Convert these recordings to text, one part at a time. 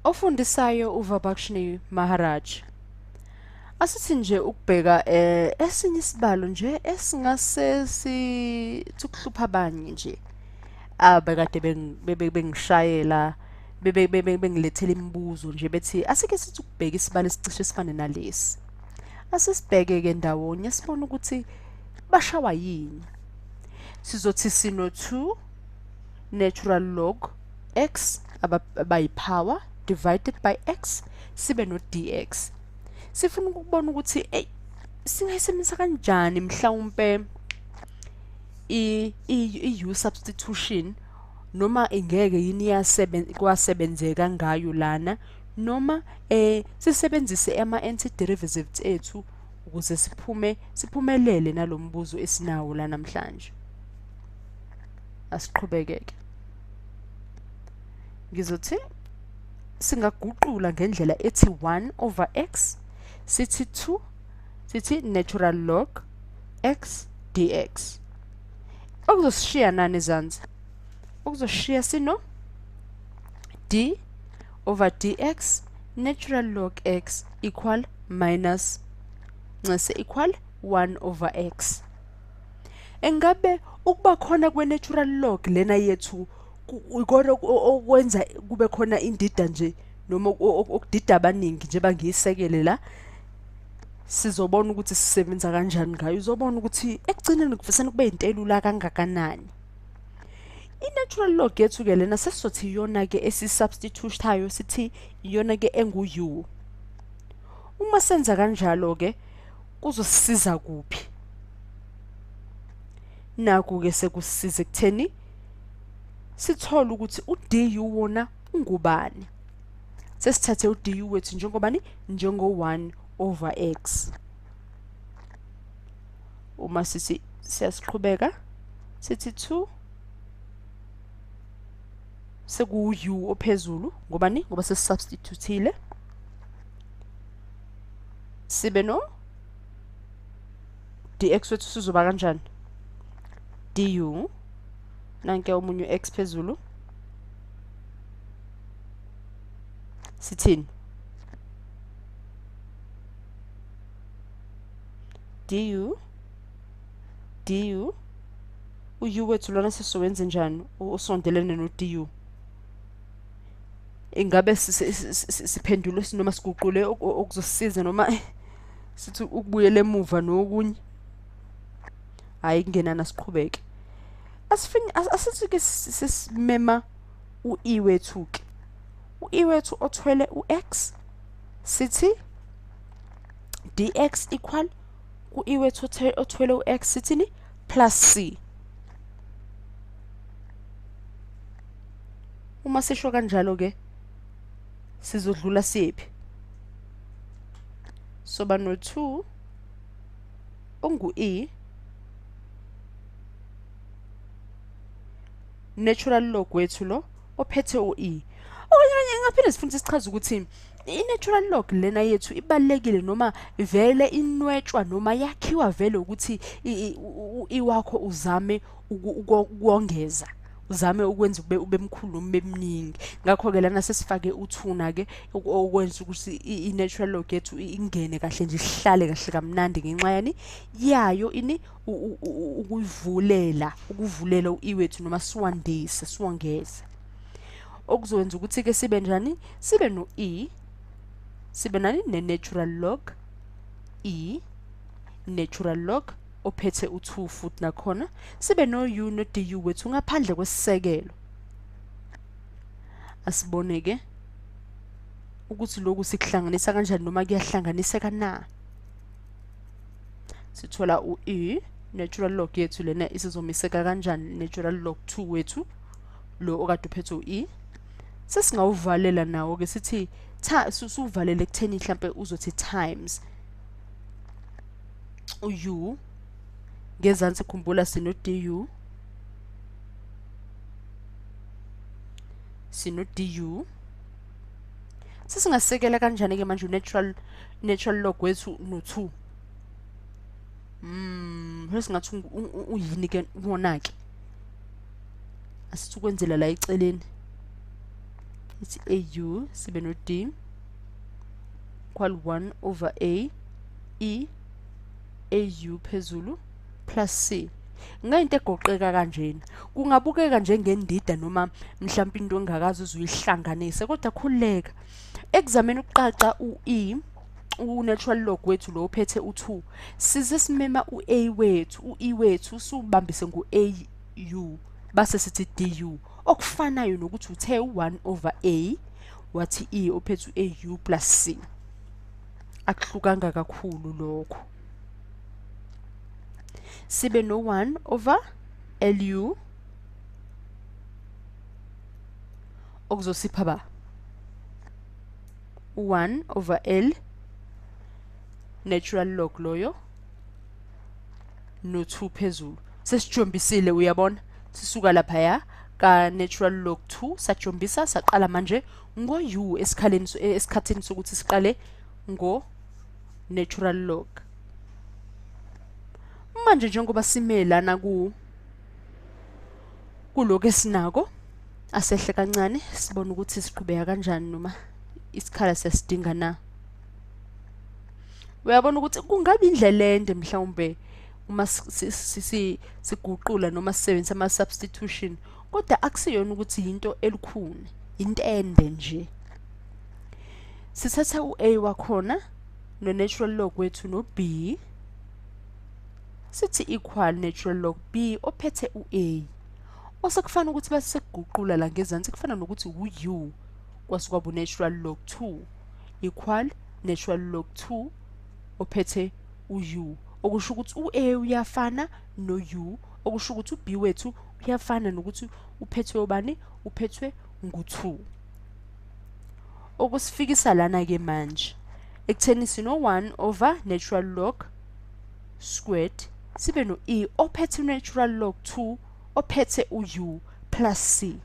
Ofundisayo uVabakshni Maharaj. Asithi nje ukubheka eh esinye isibalo nje esingase sithukuhlupha abanye nje. Abekade bengishayela bebe bengilethela imibuzo nje bethi asike sithi ukubheka isibalo esicishe sifane nalesi. Asisibheke ke ndawonye sibone ukuthi bashawa yini. Sizothi sino 2 natural log x abayipower divided by x sibe no dx sifuna ukubona ukuthi ey singayisebenzisa kanjani mhlawumpe i i u substitution noma ingeke yini yasebenza kwasebenzeka ngayo lana noma eh sisebenzise ama anti derivatives ethu ukuze siphume siphumelele nalombuzo esinawo la namhlanje asiqhubekeke ngizothi singaguqula ngendlela ethi 1 over x sithi 2 sithi natural log x dx okuzosishiya nani ezansi okuzoshiya sino d over dx natural log x equal minus nxese equal 1 over x engabe ukuba khona kwe-natural log lena yethu ikona okwenza kube khona indida nje noma okudida abaningi njengoba ngiyisekele la sizobona ukuthi sisebenza kanjani ngayo uzobona ukuthi ekugcineni kuvesane kube yintelula kangakanani i-natural log yethu-ke lena sesizothi iyona-ke esisubstituthayo sithi iyona-ke engu-u uma senza kanjalo-ke kuzosisiza kuphi naku ke sekusisiza ekutheni sithole ukuthi uDU wona ungubani sesithathe uDU wethu njengobani njengo 1 over x uma sithi siyasiqhubeka sithi 2 seku u ophezulu ngobani ngoba sesubstitutile sibe no dx wethu sizoba kanjani du nanke omunye u-x phezulu sithini du du uyu wethu lona sesizowenze njani usondelene no du ingabe siphendule sinoma siguqule okuzosiza noma eh, sithi ukubuyela emuva nokunye hayi kungenana siqhubeke asifini asithi ke sisimema uE wethu ke uE wethu othwele uX sithi dx equal kuE wethu othwele uX sithini plus C. Uma sisho kanjalo ke sizodlula siphi? Soba no 2 ongu E natural log wethu lo ophethe u E. Okanye ngaphinde sifundise sichaza ukuthi i-natural log lena yethu ibalekile noma vele inwetshwa noma yakhiwa vele ukuthi iwakho uzame ukongeza uzame ukwenza ube ube mkhulu noma bemningi ngakho ke lana sesifake uthuna ke okwenza ukuthi i natural log yethu ingene kahle nje ihlale kahle kamnandi ngenxa yani yayo ini ukuyivulela ukuvulela uiwethu noma siwandise siwongeze okuzokwenza ukuthi-ke sibe njani sibe no-e sibe nani ne-natural log e natural log ophethe u-2 futhi nakhona sibe no-u no-du wethu ngaphandle kwesisekelo asibone-ke ukuthi lokhu sikuhlanganisa kanjani noma kuyahlanganiseka na sithola u-e natural log yethu lena isizomiseka kanjani natural log 2 wethu lo okade uphethe u-e sesingawuvalela nawo ke sithi suvalele ekutheni mhlambe uzothi times uyu ngezansi khumbula sino du sino du sesingasekela kanjani ke manje natural natural log wethu no 2 mm sesingathi uyini ke wona ke asithukwenzela la eceleni ithi au sibe no d equal 1 over a e au phezulu plus c ngayinto egoqeka kanjena kungabukeka njengendida noma mhlawumbe into engakazi uzuyihlanganise kodwa khululeka ekuzameni ukuqaxa u-e u-natural log wethu lo uphethe u-2 size simema u-a wethu u-e wethu siwubambise ngu-a u base sithi du okufanayo nokuthi uthe u1 over a wathi e ophethe u-au plus c akuhlukanga kakhulu lokho sibe no-1 over lu okuzosipha ba u-1 over l natural log loyo no 2 phezulu sesijombisile uyabona sisuka lapha ya ka natural log 2 sajombisa saqala manje ngo u esikhaleni eh, esikhathini sokuthi siqale ngo natural log manje njengoba simelana ku kuloko esinako asehle kancane sibone ukuthi siqhubeka kanjani noma isikhala sesidinga na uyabona ukuthi kungabe indlela ende mhlawumbe uma siguqula noma sisebenzisa ama substitution kodwa akusiyona ukuthi into elukhuni into ende nje sithatha uA wakhona no natural log wethu no B sithi equal natural log B ophethe uA osekufanele ukuthi base sekuguqula la ngezansi kufana nokuthi uU kwasuka bu natural log 2 equal natural log 2 ophethe u-u okusho ukuthi u-a uyafana no-u okusho ukuthi u-b wethu uyafana nokuthi uphethwe obani uphethwe ngu-2 okusifikisa lana-ke manje ekutheni sino-1 over natural log squared sibe no-e ophethe natural log 2 ophethe u-u plus c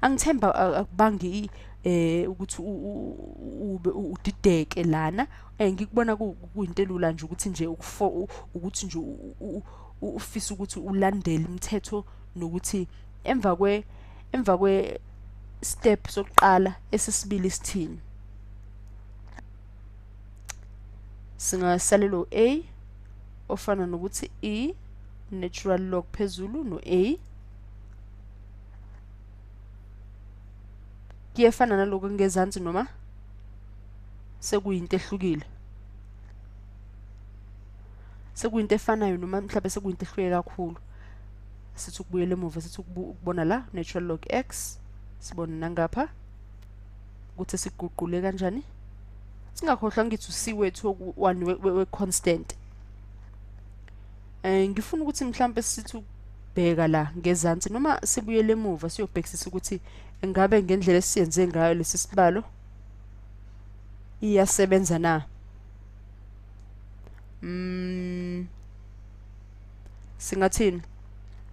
angithemba akubangi eh ukuthi ube udideke lana eh, ngikubona kuyinto elula nje ukuthi nje ukuthi nje ufisa ukuthi ulandele imithetho nokuthi emva kwe emva kwe step sokuqala esisibili sithini singasalelo a ofana nokuthi e natural log phezulu no a kuyefana naloko ngezansi noma sekuyinto ehlukile sekuyinto efanayo noma mhlawumbe sekuyinto ehlukile kakhulu sithi ukubuyela emuva sithi ukubona la natural log x sibona nangapha ukuthi siguqule kanjani singakhohlwa ngithi usiwethu one we constant eh ngifuna ukuthi mhlambe sithi ukubheka la ngezansi noma sibuyele emuva siyobhekisisa ukuthi engabe ngendlela esiyenze ngayo lesi sibalo iyasebenza na mm singathini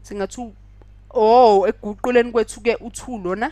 singathi oh ekuguquleni kwethu ke uthu lona